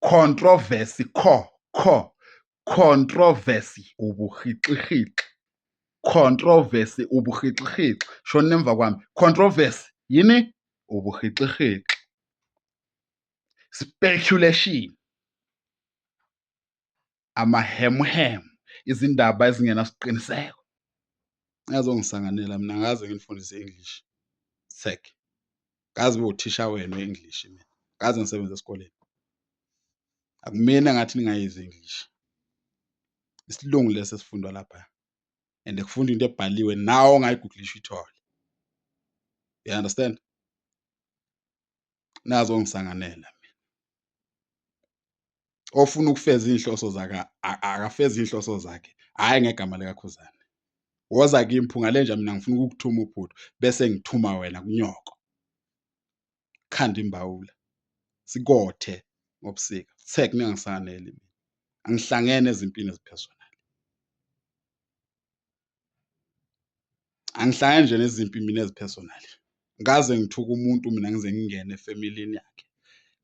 controversy kho kho controversy ubuhixihixi controversy ubuhixihixi shona nemva kwami controversy yini ubuhixihixi speculation amahemuhemu izindaba ezingenasiqiniseko azongisanganela mina ngaze nginifundise English sec ngazi uthisha wenu English mina ngaze ngisebenza esikoleni akumina ngathi ningayizi English isilungu lesi esifundwa lapha and kufunda into ebhaliwe nawo ongayigugulisha ithole you understand nazo ngisanganela mina ofuna ukufeza inhloso zaka akafeza inhloso zakhe hayi ngegama lika Khuzane woza kimi phunga lenja mina ngifuna ukukuthuma ubhuti bese ngithuma wena kunyoko khanda imbawula sikothe ngobusika sek ningangisanganeli mina angihlangene ezimpini eziphezulu angihlangani nje nezimpi mina ezi-personal kaze ngithuke umuntu mina ngize ngingene efemelini yakhe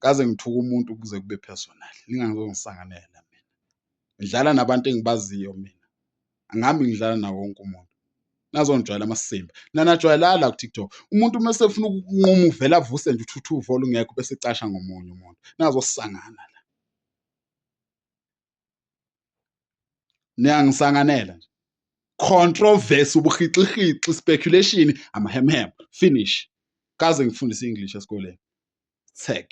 kaze ngithuke umuntu kuze kube personal ningazongisanganela mina ngidlala nabantu engibaziyo mina angihambi ngidlala nawo wonke umuntu nazongijwayela amasimba nanajwayelala la ku-tiktok umuntu uma esefuna ukunquma uvela avuse nje uthuthuva olungekho bese ecasha ngomunye umuntu nazosangana la niyangisanganela nje controversy ubuhixihixi speculation amahemhem finish kaze ngifundise english esikoleni tag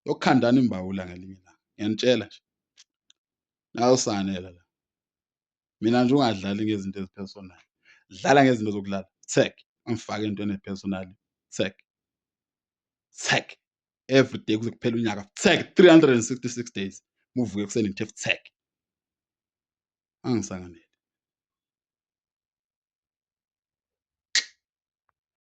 yokukhandana imbawula ngelinye ilanga ngiyanitshela nje nawusanela la mina nje ungadlali ngezinto ezipersonal dlala ngezinto zokulala tag angifake entweni epersonal tag tag every day kuze kuphele unyaka futsek 366 days muvuke ekuseni ngithe futsek angisanganele